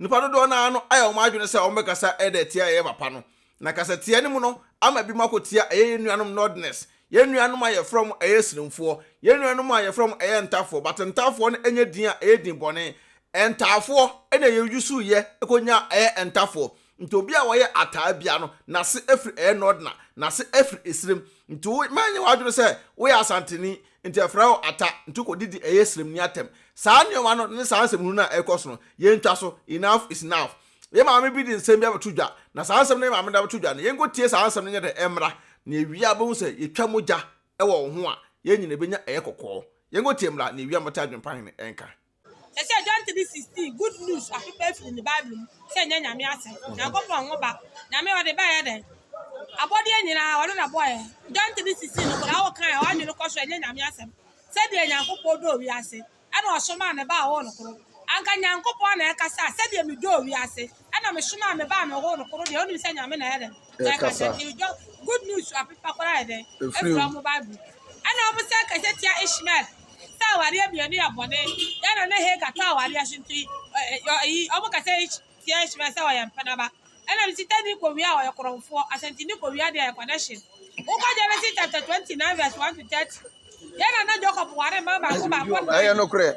Nnipa dodoɔ no ara no ayɛ wɔn adwene sɛ wɔbɛkasa de atia yɛn papa no. Na kasatia no mu no ama binom akɔtia ɛyɛ yɛn nuanom Northerners, yɛn nuanom a yɛfrɛ wɔn ɛyɛ Siremfoɔ, yɛn nuanom a yɛfrɛ wɔn ɛyɛ Ntafoɔ, but Ntafoɔ no nyɛ din a ɛyɛ din bɔne. Ntaafoɔ na yɛ usuui yɛ kɔnyaa ɛyɛ Ntafoɔ. Nti obi a wɔyɛ Ataa biara no n'ase firi ɛyɛ Northerner, n'ase firi Esirem. Nti wo mma nyɛ w'adwene sɛ woyɛ Asanteni Nti ɛfrɛ wo ata, nti kɔ didi ɛyɛ srem ni atɛm. Saa nneɛma no ne saa nsɛmhunu no a ɛrekɔ so no, yɛntwa so, enough is enough. Yɛn maame bi de nsɛm bi abɛto dwa, na saa nsɛm no a yɛn maame de abɛto dwa no, yɛnkɔtie saa nsɛm no nyɛ dɛn mmra, na yɛwie a wobɛhu sɛ yɛtwa mogya wɔ wo ho a, yɛn nyinaa bɛnya ɛyɛ kɔkɔɔ. Yɛnkɔtie mmra na yɛwie a mobɛte adwempa hene nka. Te sɛ John 3:16, Good News apepa afiri ne Bible mu sɛ ɛnyɛ Nyame asɛm, Nyankopɔn ho ba. Nyame ɔde bɛyɛ dɛn? Abɔdeɛ nyinaa ɔno na bɔɔɛ. John 3:16 no koraa wo kan a wadwene kɔ so ɛnyɛ Nyame asɛm. Sɛdeɛ Nyankopɔn dɔɔ wiase ɛna ɔsomaa ne ba a ɔwɔ no koro. Anka Nyankopɔn na ɛkasa a sɛdeɛ medɔɔ wiase. ɛna mesomaa me baa me hɔ no koro deɛ wonim sɛ nyame na ɛyɛ dɛn na ɛka sɛ de dɔ good news apepa koraa yɛ dɛn ɛfira mo bible ɛna ɔmo sɛ kɛsɛ tia ishmael sɛ awadeɛ mmienu yɛ bɔne yɛna ne heka tɔ awadeɛ so nti ɛyi ɔmo kɛsɛ tia ishmael sɛ ɔyɛ mpenaba ɛna me sita ni kɔwia a ɔyɛ korɔmfoɔ asɛnti ni kɔwia deɛ yɛ connection wokɔ genesis chapter 29 verse 1 to 30 yɛna na jacob ware ma baako baako ɛyɛ nokorɛ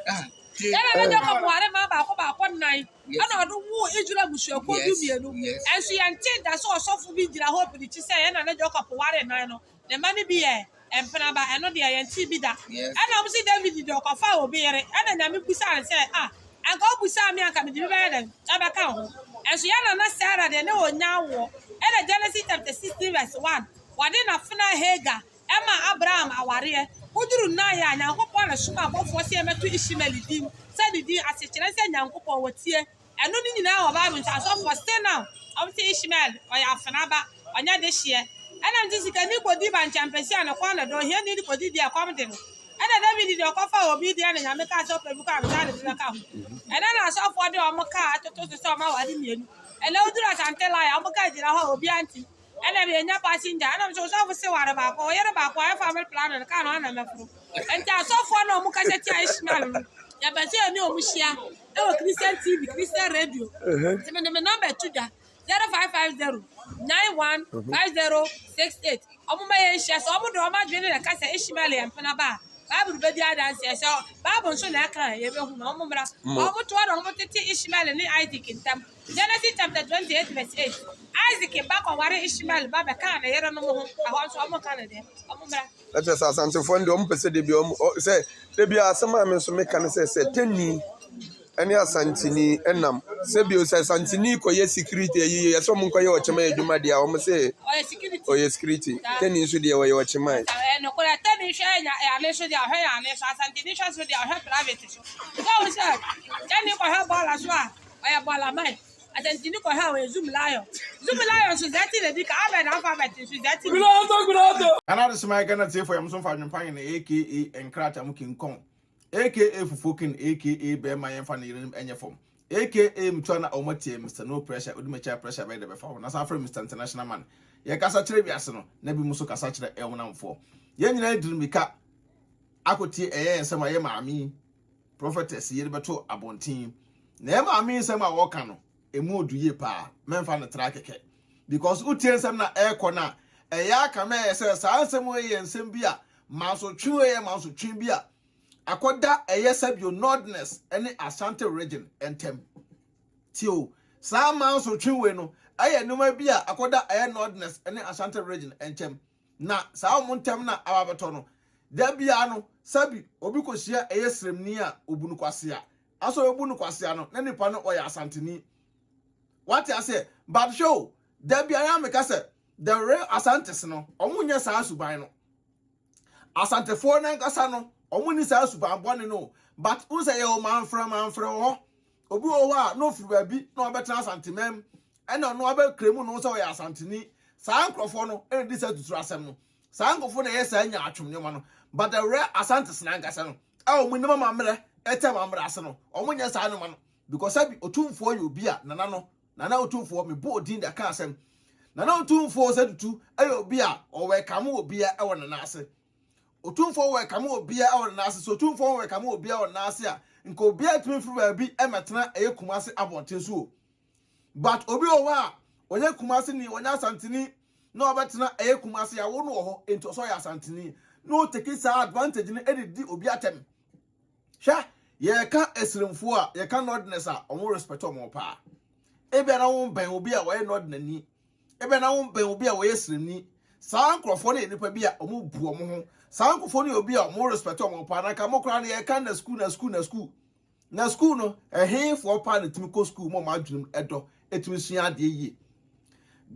yɛna na jacob ware ma baako baako nnan ɛna ɔde woo Israel abusuakuo du mmienu. Ɛnso yɛntee da sɛ ɔsɔfo bi gyina hɔ pirikyi sɛ yɛn nana Jacob ware nan no, ne mma no bi yɛ mpenaba, ɛno deɛ yɛntee bi da. Ɛna wɔsi David de ɔkɔfaa obi yere, ɛna Nyame bisaa no sɛ, Ah, anka wobisaa me a, anka mede bi bɛyɛ dɛn? Ɛbɛka wo ho. Ɛnso yɛn nana Sarah deɛ, na ɔnnya awoɔ. Ɛna Genesis chapter 16 verse 1, wɔde n'afenaa Hagar Ɛmaa Abraham awareɛ ho duru nna yɛ a, Nyankopɔn na somaa abɔfoɔ sɛ yɛmmɛto Ishmael din sɛ ne din ase, kyerɛ sɛ Nyankopɔn wɔtie. Ɛno ne nyinaa wɔ Bible nti asɔfoɔ still now wɔn se Ishmael ɔyɛ afena ba, ɔnyɛ dehyeɛ. Ɛna nti sikani kɔdi bankyɛmpɛsi a ne kɔn na dɔ, ohiani de kɔdi deɛ ɛkɔm de no. Ɛna David deɛ ɔkɔfaa obi deɛ na Nyame kaa sɛ ɔpɛ bi kɔ a ansa na bi bɛka ho. Ɛna na asɔfoɔ de wɔn car atoto so sɛ wɔn aware mmienu. Ɛna woduru Asante line a wɔn car gyina hɔ a obiara nte mu. Ɛna yɛnya passenger, ɛna mesɛ ɔsɔfo se ware baako, ɔyere baako ayɛ family planning no, kaa no ana mɛforo. Nti asɔfoɔ na ɔmo kasa tia Ishmael no, yɛpɛ sɛ yɛne ɔmo hyia ɛwɔ Christian TV, Christian radio. Nti mede me number to dwa, 0550 915068. Ɔmo ma yɛn hyia, sɛ ɔmo de ɔmo adwene na ɛka sɛ Ishmael yɛ mpena ba a, Bible bɛdi adanseɛ, sɛ Bible nso na ɛka a, yɛbɛhu no, ɔmo mmra. Ɔmo toa na ɔmo tete Ishmael ne Isaac ntam, Genesis chapter twenty eight verse eight Isaac ba kɔware Ishmael ba bɛkaa ne yerenom ho ɛhɔ nso ɔmo ka no dɛ ɔmo mmra. Ɛkyɛ sɛ asantefoɔ no deɛ ɔmo pɛ sɛ debi ɔmo sɛ debi asɛm a me nso meka no sɛ sɛ tɛni ɛne asanteni ɛnam sɛ bio sɛ asanteni kɔyɛ security ɛyi yɛ sɛ ɔmo nkɔyɛ ɔkyɛm ɛyɛ adwuma deɛ ɔmo sɛ ɔyɛ security tɛni nso deɛ ɔyɛ ɔkyɛm ayɛ. Ɛnokorɛ tɛni hwɛ ɛnya ɛyane nso deɛ ɔhwɛ yane nso asanteni hwɛ nso deɛ ɔhwɛ private nso sɛ ɔmo sɛ tɛni kɔhwɛ bɔɔla so a. ɔyɛ bɔɔlaman. Asɛntini kɔhɛɛ ɔyɛ Zoom Lion. Zoom Lion nso dza ɛtse na bi ka, Albert na Alphabet nso dza ɛtse na bi. Ana ade soma yɛ Ghana tiefo yɛm nso mfa adwempa yɛ na aka nkrataa mu kinkɔn aka fufuo kin aka bɛɛma yɛn fa ne yerenom ɛnyɛ fam aka mtua na ɔma tie Mister no pressure odi makyi a pressure bɛyɛ dɛ bɛfa ho na san frɛ Mister international man yɛ kasa kyerɛ wiase no na bi mu nso kasa kyerɛ ɛwonamfoɔ yɛn nyinaa diri mika akɔ tie ɛyɛ yɛn sɛm a yɛ maame yi Prophetess yere bɛto abɔnten na ɛma ame nsɛm a wɔka no ɛmu odu yie paa mɛmfa no tra kɛkɛ because wotie nsɛm na ɛrekɔ no a ɛyɛ aka ma ɛyɛ sɛ saa nsɛm wei yɛ nsɛm bi a mansotwe wei yɛ mansotwe bi a akɔda ɛyɛ sɛbio nordness ne asante region ntɛm tio saa mansotwe wei no ɛyɛ nneɛma bi a akɔda ɛyɛ nordness ne asante region nkyɛm Na saa wɔn ntam na aba bɛtɔ no. Da biara no, sɛbi obi kɔhyia ɛyɛ sremni a ɔbu no kwasea. Nanso ɔbɛbu no kwasea no, na nipa no ɔyɛ Asanteni. Wate aseɛ? But hwɛ o, da biara a meka sɛ, the real Asantes no, wɔn nyɛ saa suban no. Asantefoɔ no ankasa no, wɔn nni saa suban bɔne no o. But wohu sɛ yɛwɔ manfrɛ manfrɛ wɔ hɔ. Obi wɔ hɔ a, na ɔfiri baabi na wabɛtena Asantemam. ɛna ɔno abɛkra mu no sɛ ɔyɛ asanteni saa nkurɔfoɔ no ɛna di saa tuturu asɛm no saa nkurɔfoɔ na ɛyɛ saa nya atwom nneɛma no but ɛwerɛ asantes na ankasa no a wɔn nim amammerɛ ɛtɛ amammerɛ ase no wɔn nyɛ saa nneɛma no because ɛbi otumfoɔ yɛ obi a nana no nana otumfoɔ mebu odin de aka asɛm nana otumfoɔ sɛ tutu ɛyɛ obi a ɔwɔ ɛkame wɔ bia ɛwɔ nana ase otumfoɔ wɔ ɛkame wɔ bia ɛwɔ nana ase so otumfoɔ wɔ ɛkame wɔ bia ɛwɔ nana ase a nka obi atumi firi baabi ɛmɛtena ɛyɛ kuma ase abɔnten so o But obi wɔ hɔ a ɔyɛ Kumasi ni ɔnyɛ Asante ni na ɔbɛtena ɛyɛ Kumasi yɛawo no wɔ hɔ nti ɔsɛ ɔyɛ Asante ni na ɔteki saa advantage no de di obi atɛm. Hwɛ yɛka asirimfoɔ a yɛka Northerners a wɔn respect wɔn paa. Ebia na wɔn bɛn obi a ɔyɛ Northerner ni ebia na wɔn bɛn obi a ɔyɛ Siremni saa nkurɔfoɔ no yɛ nipa bi a wɔn bu wɔn ho saa nkurɔfoɔ no yɛ obi a wɔn respect wɔn paa na nka mo koraa no yɛka na school na school na school Na sukuu no, ɛhefoɔ paa na ɛtumi kɔ sukuu ma wɔn adwenem ɛdɔ, ɛtumi sua adeɛ yie?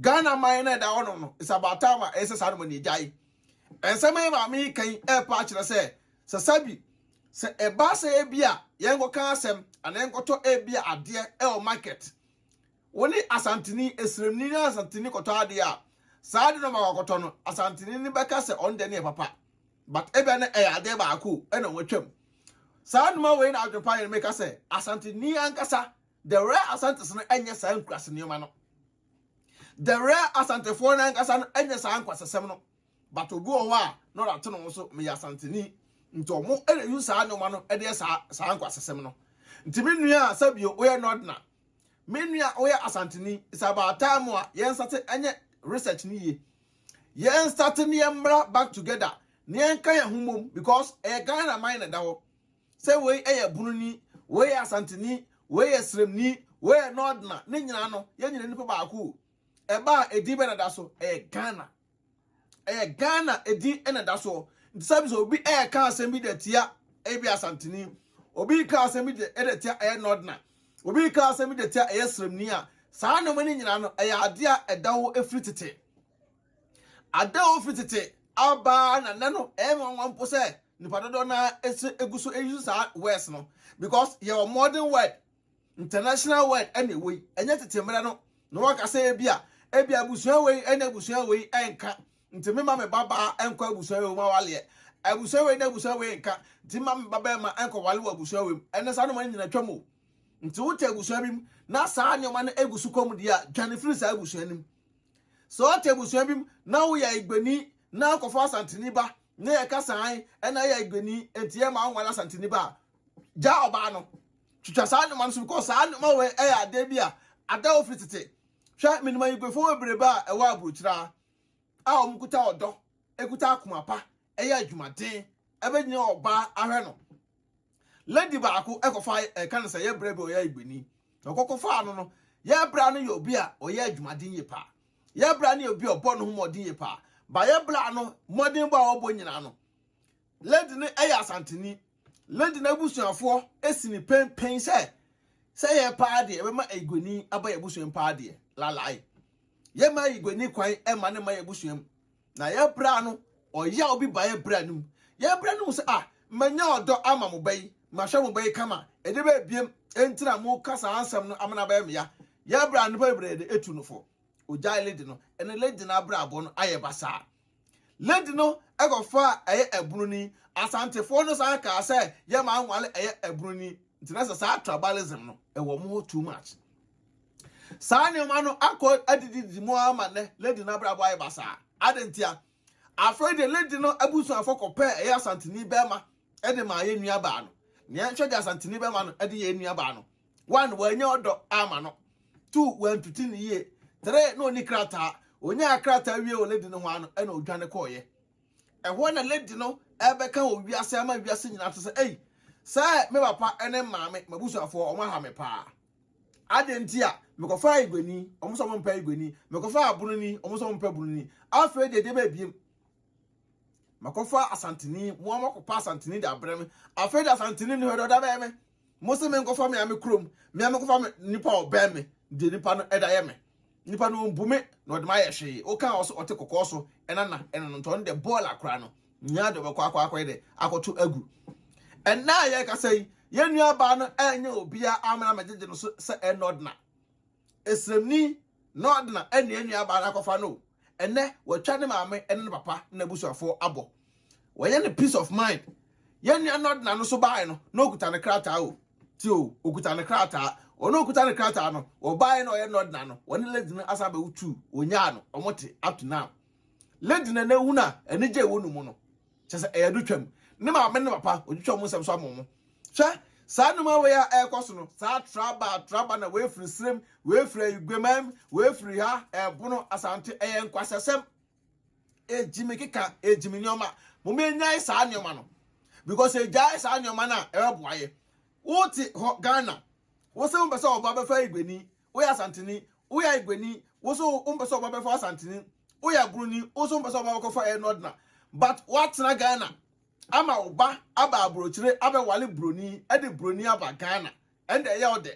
Ghana man no a ɛda hɔnom no, it's about time a ɛyɛ sɛ saa nom ani agyae. Ɛnsɛm a maame yi kan ɛrepa akyerɛ sɛ, sɛ sabi, sɛ ɛba sɛ ebi a yɛnkɔka asɛm anaa yɛnkɔtɔ ebi a adeɛ ɛwɔ market, wo ne Asanteni, Esremni ne Asanteni kɔtɔ adeɛ a, saa adeɛ no a ɔma wakɔtɔ no, Asanteni no bɛka sɛ ɔno deɛ ne yɛ papa. but ebia na ɛyɛ adeɛ baako na wɔatwam. Saa nnoɔma wei na adwempa yɛn meka sɛ Asanteni ankasa, the rare Asantes no nyɛ saa nkurase nneɛma no. The rare Asantefoɔ no ankasa no nyɛ saa nkwasasɛm no. But obi wɔ hɔ a na ɔde ato ne ho so, meyɛ Asanteni. Nti wɔn na use saa nneɛma no de yɛ saa saa nkwasasɛm no. Nti me nua a sɛbio woyɛ Northerner, Me nua a woyɛ Asanteni, it's about time a yɛn start ɛnyɛ research no yie. Yɛn start ne yɛn mmra back together na yɛn ka yɛn ho mmom because ɛyɛ Ghana man na ɛda hɔ. Sɛ wei ɛyɛ Bununi, wei yɛ Asanteni, wei yɛ Sremni, wei yɛ Nordna, ne nyinaa no yɛn nyinaa nipa baako o. Ɛbaa edin bɛ na ɛda so ɛyɛ Ghana. ɛyɛ ghana edin na ɛda soɔ nti sɛ bisa obi ɛɛka asɛm bi de tia ebi asantini obi ka asɛm bi de tia ɛyɛ nɔdena obi ka asɛm bi de tia ɛyɛ sremni a saa nneɛma no nyinaa no ɛyɛ adeɛ a ɛda hɔ efiri tete ada hɔ firi tete abaa na nɛ no ɛyɛ nwanwa mpo sɛ nipa dodoɔ naa ɛsɛ egu so eyi so saa words no because yɛwɔ modern word International word na ɛwɔ yi, ɛnyɛ tete mmerɛ no na wɔka sɛ ebia, ebia abusua wei ne abusua wei nka, nti memma me babaa nkɔ abusua wei mu awaleɛ, abusua wei ne abusua wei nka, nti memma me babarima nkɔwale wɔ abusua wei mu, ɛnɛ saa nneɛma no nyina twam o. Nti wote abusua bi mu na saa nneɛma no egu so kɔm deɛ a, dwane firi saa abusua no mu. Sɛ wote abusua bi mu na woyɛ Igbeni na akɔfa Asanteni ba na yɛka saan na yɛ Igbeni nti yɛma wonware Asanteni ba a, gyaa ɔbaa no. Twitwa saa nneɛma no so because saa nneɛma wei ɛyɛ adeɛ bi a ada hɔ firi tete. Hwɛ menim ayiguefoɔ bebrebe a ɛwɔ aburokyire a a wɔn kuta ɔdɔ, ekuta akoma pa, ɛyɛ adwumaden, ɛbɛgyina ɔbaa ahwɛ no. Lady baako ɛkɔfa ɛka no sɛ yɛ brɛ bi ɔyɛ ayigueni. Ɔkɔkɔfaa no no, yɛ brɛ no yɛ obi a ɔyɛ adwumaden yie paa. Yɛ brɛ no yɛ obi a ɔbɔ ne ho mmɔden yie paa. Ba yɛ brɛ no mmɔdenbɔ a ɔbɔ nyinaa no, lady no ɛyɛ asanteni. Lady n'abusuafoɔ si no penpen sɛ sɛ yɛ paa deɛ ɛbɛma ayigoni aba yɛ abusuam paa deɛ lalae yɛma ayigoni kwan ɛma ne ma yɛ abusuam na yɛbra no ɔyɛ a obi ba yɛbra no mu yɛbra no mu sɛ a ah, manya ɔdɔ ama mo bɛyi mahwɛ mo bɛyi kama ɛde bɛbiem ɛntina mo ka saa nsɛm no amana bɛyɛ meya yɛbra nnipa bebree de ɛtu no fo ogyae lady no ɛne lady no abrabɔ no ayɛ basaa Lady no kɔfaa ɛyɛ abunu ni. Asantefoɔ no san kaa sɛ yɛ maa nwale ɛyɛ abunu ni nti na sɛ saa tribalism no ɛwɔ wɔn hɔ too much. Saa nneɛma no akɔ adididi mu ara ma nnɛ lady no abrabɔ ayɛ basaa. Adɛn ntia? Afei deɛ lady no abusuafoɔ kɔpɛɛ ɛyɛ asanteni bɛrima de maa yɛn nuabaa no. Nea ɛnhwɛ deɛ asanteni bɛrima no de yɛɛ nuabaa no. one wɔanya ɔdɔ ama no two wɔantete ne yie three na ɔni krataa ɔnyaa krataa wie wɔ lady no ho ano ɛna ɔdwane kɔɔyɛ ɛhɔ na lady no ɛbɛka wɔ wiase ama wiase nyinaa te sɛ ei sɛ me papa ne maame mabusuafoɔ ɔmo aha me paa adeɛ nti a mekɔfa igwani ɔmo sɛ ɔmo mpɛ igwani mekɔfa abunoni ɔmo sɛ ɔmo mpɛ bunoni afei deɛ deɛ bɛbiem makɔfa asantini mo ama kɔpa asantini de abrɛ me afei de asantini no hwɛ deɛ ɔda bɛyɛ me Mo se menkɔfa me ame kurom, me ara mekɔfa me nipa a ɔbɛn me, deɛ nipa no da yɛ me. Nipa no ɔmbu me na ɔde me ayɛ hwee. Woka a ɔse ɔte kɔkɔɔ so na na ɛno no nti ɔno deɛ bɔɔl akora no nyinaa deɛ ɔbɛkɔ akɔ akɔyɛ dɛ akɔto agu. Ɛnnɛ a yɛrekasa yi, yɛn nuabaa no ɛnyɛ obiara amena megyegye no so sɛ ɛnnɛ ɔdena. Esremni na ɔde na ɛnua nuabaa no akɔfa no o, ɛnɛ watwa ne maame ne ne papa ne n'abusuafoɔ abɔ. Wayɛ no peace of mind. Yɛn nua Nordna no nso baeɛ no, na ɔkuta ne krataa o. Tie o, ɔkuta ne krataa. Wɔn a ɔkuta ne krataa no, wɔbaeɛ na ɔyɛ Nordna no, wɔne lady no asan abɛwo two, wɔnyaa no, wɔte up to now. Lady no ɛnɛ wu no a, anigye a ɛwɔ ne mu no, kyɛ sɛ ɛyɛ adwotwam ne maame ne papa odwotwa wɔn nsɛm so ama wɔn hwɛ saa nnwuma wei a ɛrekɔ so no saa traba traba na wei firi serem wei firi ayiguamam wei firi ha ɛbono asante ɛyɛ nkwasasɛm egyimi keka egyimi nneɛma mo mo enyae saa nneɛma no because egyae saa nneɛma no a ɛbɛboa yɛ wote hɔ ghana wosɛ mo pɛ sɛ ɔba bɛfa ayiguani Woyɛ Asanteni, woyɛ Aigwani, wo nso wompɛ sɛ wo ba bɛfa Asanteni. Woyɛ Aburoni, wo nso wompɛ sɛ wo ba bɛkɔfa ɛyɛ Northerner. But woatena Ghana ama wo ba aba aburokyire abɛwale Buroni de Buroni aba Ghana. Ɛnde ɛyɛ wo dɛ.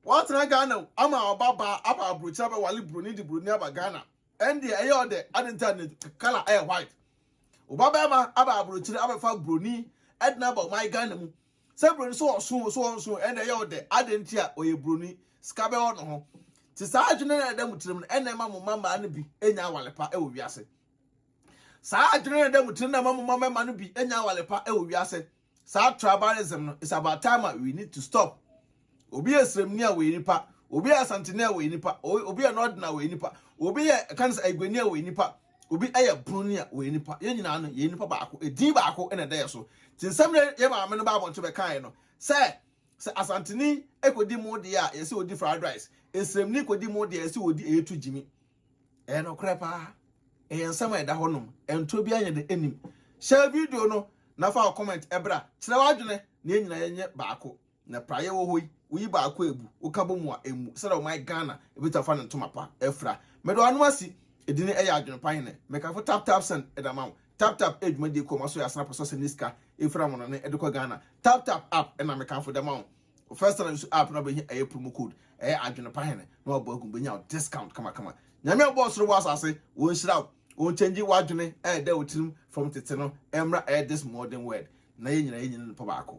Woatena Ghana o, ama wo ba ba aba aburokyire abɛwale Buroni de Buroni aba Ghana. Ɛnde ɛyɛ wo dɛ. Adɛn nti a ne colour yɛ white? Wo ba barima aba aburokyire abɛfa Buroni de no aba ɔman Ghana mu. Sɛ broni sɛ ɔso o sɛ ɔnso o ɛna ɛyɛ wo dɛ adɛn nti a ɔyɛ broni sika bɛwɔ ne ho nti saa adwene no a ɛda mo tirim no ɛna ɛma mo mma mmaa no bi nya awale pa wɔ wiase saa adwene no ɛda mo tirim na ɛma mo mma mmarima no bi nya awale pa wɔ wiase saa tribalism no is about time a we need to stop Obi yɛ srɛmni a ɔyɛ nipa, obi yɛ asanteni a ɔyɛ nipa, obi yɛ nɔɔden a ɔyɛ nipa, obi yɛ ɛka ne sɛ aguani a ɔyɛ nipa, obi yɛ broni a ɔyɛ nipa. Yɛn nyinaa no yɛyɛ nipa baako. Edin baako na ɛda yɛn so. Nti nsɛm na yɛn maame no baa abɔnten bɛkaeɛ no sɛ sɛ asanteni kɔdi mo deɛ a yɛsɛ ɔdi fried rice, esrɛmni kɔdi mo deɛ a yɛsɛ ɔdi ɛyɛtu gyimi. Ɛyɛ nokorɛ paa. Ɛyɛ nsɛm a ɛda hɔnom. Ɛntorɔ biara nyɛ dɛ ɛnim. Hyɛ video no na fa wo comment ɛbra. Kyerɛ w'adwene na yɛn nyinaa yɛnyɛ baako. Na praeɛ wɔ hɔ yi, woyi baako a abu, woka bɔ mu a ɛmmu, sɛdeɛ ɔman Ghana bɛtumi afa ne ntoma pa afira. Mede w'anom asi, ɛdin no yɛ Adwene Pa Hene. Mekamfo Tap Tap Send de ama wo. Tap Tap yɛ dwumadie kuo a wɔasɔ yɛ asene apɛ sɛ wɔsɛnde ne sika firi amanɔne de kɔ Ghana. Tap Tap App na mekamfo de ama wo. Wo first time nso app no a wobɛhia ɛyɛ promo code, ɛyɛ Adwene Pa Hene na wabɔ agu mu, bɛnya wo discount kamakama. Nyame a ɔbɔɔ soro bɔɔ asase, ɔnhyira wo, ɔnkyɛngye w'adwene a ɛda wo tirim fam tete no mmra ɛyɛ this modern world na yɛn nyinaa yɛnyini no nipa baako.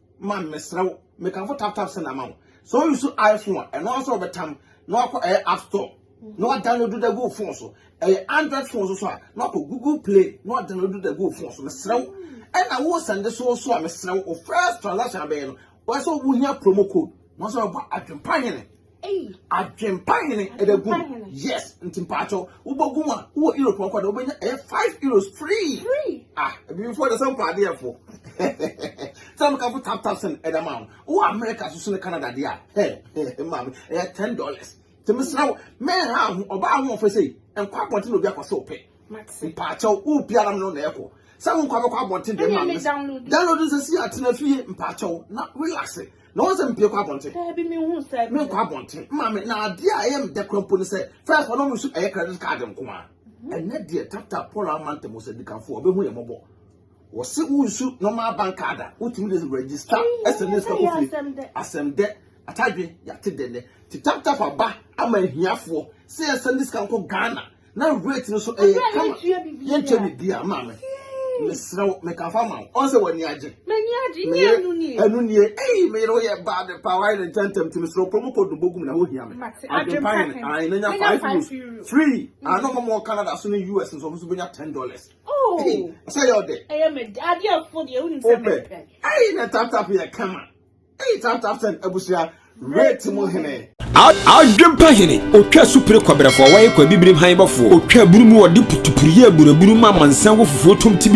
Man mesrɛ wo mekamfo tap tap send ama wo sɛ wo use iPhone a ɛno ara sɛ wɔbɛtam na wakɔ ɛyɛ app store na wadownload da gu wo phone so ɛyɛ android phone so so a na wakɔ google play na wadownload da gu wo phone so mesrɛ wo ɛna wo sɛnde so so a mesrɛ wo first transaction abɛyɛ no wɔsɛ wohia promo code na wɔsɛ wɔbɔ adwempa hene Adwempa hene ɛbɛ gu yes nti mpaatɔ wobɔ gu a wowɔ europe ɔkɔ dɛ wobɛnya ɛyɛ five euros free ah ebifoɔ dɛ sɛ mpa adeɛ fo sɛ meka fo tap tap sɛn ɛda ma wo wowɔ america soso ne canada deɛ a hɛ hɛ maame ɛyɛ ten dollars nti mesra wo mɛnha ho ɔbaa ho ɔfɛ sei nkɔ abɔnten na obi akɔ sɛ ɔpɛ mpaatɔ wo biara no na ɛkɔ sɛ wo nkɔ abɛkɔ abɔnten deɛ maame download nsɛ si atena fie mpaatɔ na relax na wɔn sɛ mpie kɔ abɔnten daabi mi hu sɛ mi nkɔ abɔnten mma mi na adeɛ a ɛyɛ mi dɛ kura mpo ne sɛ fɛs wɔn mu nso ɛyɛ credit card nko a mhm. ɛnɛ deɛ tata paul amanta mu sɛ dikanfo ɔbɛhu yɛ mɔbɔ wɔsi wusu normal bank card a wotumi de register ɛsɛ ne sika kofie asɛm dɛ atadwe yate dɛ nɛ te tap tap aba ama ahiafoɔ sɛ yɛsɛ ne sika nkɔ ghana na rate no so ɛyɛ kama yɛntua biribiara maa me mesrɛ wo meka fa ma wo ɔn sɛ w'ani agye ɛno nie ei meyere woyɛ bad paa wayɛ ne ntɛntɛm nti mesrɛ promo code no bɔgum na wohia me adwempa hene ae na nya 5 euros free ano ma mɔ canada so ne us nsɔfo so bɛnya 10 dollars sɛ yɛ ɔdɛ wopɛ ei na taptap yɛ kama Adwempa hene, otwa asupire kɔbrɛfoɔ, wɔyɛ kɔ abibirim han bɔfoɔ, otwa abunu mu, wɔde putupuru yɛ aburabunu ma amansan wɔ fufuo tom tibidi.